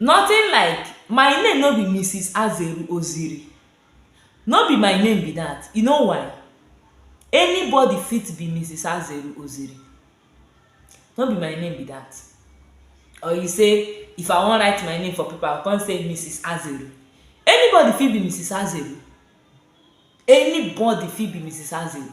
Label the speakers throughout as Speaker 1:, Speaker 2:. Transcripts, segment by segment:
Speaker 1: Nothing like, my name no be Mrs. Azeru Oziri, no be my name be that, you know why? Anybody fit be Mrs. Azeru Oziri, no be my name be that. Or you say, if I wan write my name for paper, I come say Mrs. Azeru. Anybody fit be Mrs. Azeru, anybody fit be Mrs. Azeru.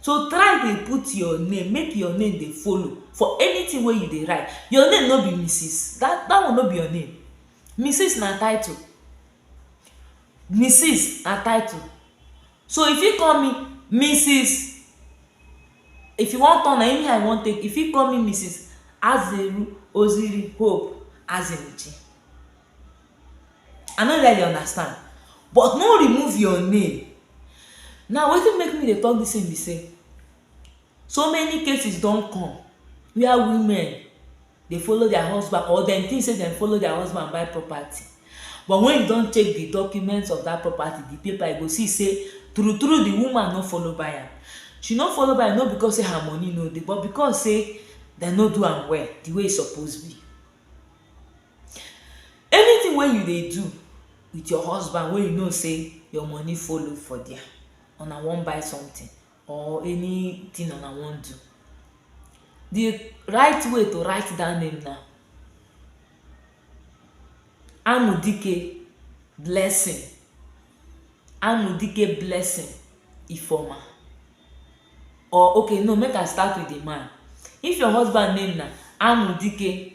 Speaker 1: so try dey put your name make your name dey follow for anytin wey you dey write your name no be Mrs dat one no be your name Mrs na title Mrs na title so you fit call me Mrs if you wan turn am anyhow you wan take you fit call me Mrs Azeru Oziri Hope Azimuche I no really understand but no remove your name now wetin make me dey talk this thing be say so many cases don come where women dey follow their husband or dem think say dem follow their husband buy property but when you don check the document of that property the paper you go see say true true the woman no follow buy am she no follow buy am no because say her money no dey but because say dem no do am well the way e suppose be Anything wey you dey do with your husband wey you know sey your money follow for there, una wan buy something or anything una wan do, de right way to write dat name na Anudike Blessing Anudike Blessing Ifeoma or okay no make I start with de man. If your husband name na Anudike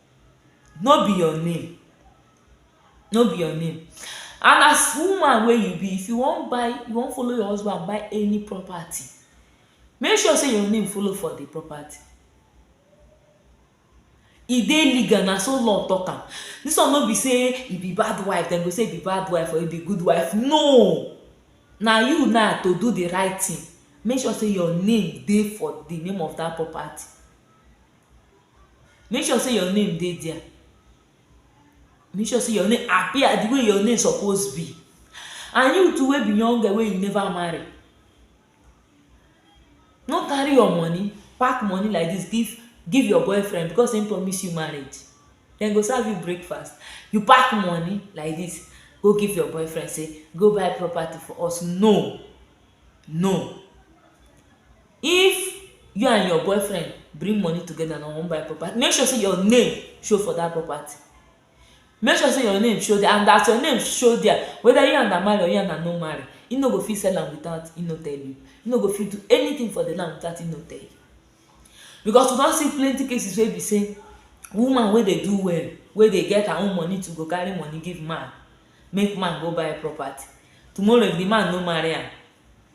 Speaker 1: no be your name no be your name and as woman wey you be if you wan buy if you wan follow your husband buy any property make sure sey your name follow for the property e dey legal na so law talk am this one no be sey e be bad wife dem go sey e be bad wife or e be good wife no na you na to do the right thing make sure sey your name dey for the name of that property make sure sey your name dey dia, make sure sey your name appear di way your name suppose be and you too wey be young girl wey you neva marry, no carry your money pack money like dis give give your boyfriend because im promise you marriage, dem go serve you breakfast, you pack money like dis go give your boyfriend sey go buy property for us, no! No! If you and your boyfriend bring money together na wan buy property, make sure sey your name show for dat property. Make sure sey your name show dia and as your name show dia, whether you and am marry or you and am no marry, im no go fit sell am without im no tell you. Im no go fit do anything for de land without im no tell you. Because we don see plenty cases wey be sey woman wey dey do well, wey dey get her own money to go carry money give man, make man go buy property. Tomorrow if de man no marry am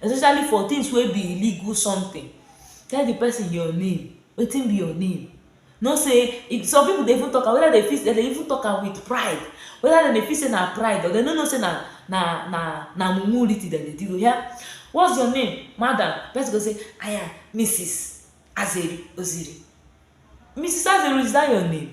Speaker 1: especially for things wey be illegal something tell the person your name wetin be your name know say if some people dey even talk am whether they fit they dey even talk am with pride whether dem dey feel say na pride but dem no know say na na na na mumu written dem dey do oya what's your name madam person go say i am Mrs Azeri Oziri Mrs Azeri is that your name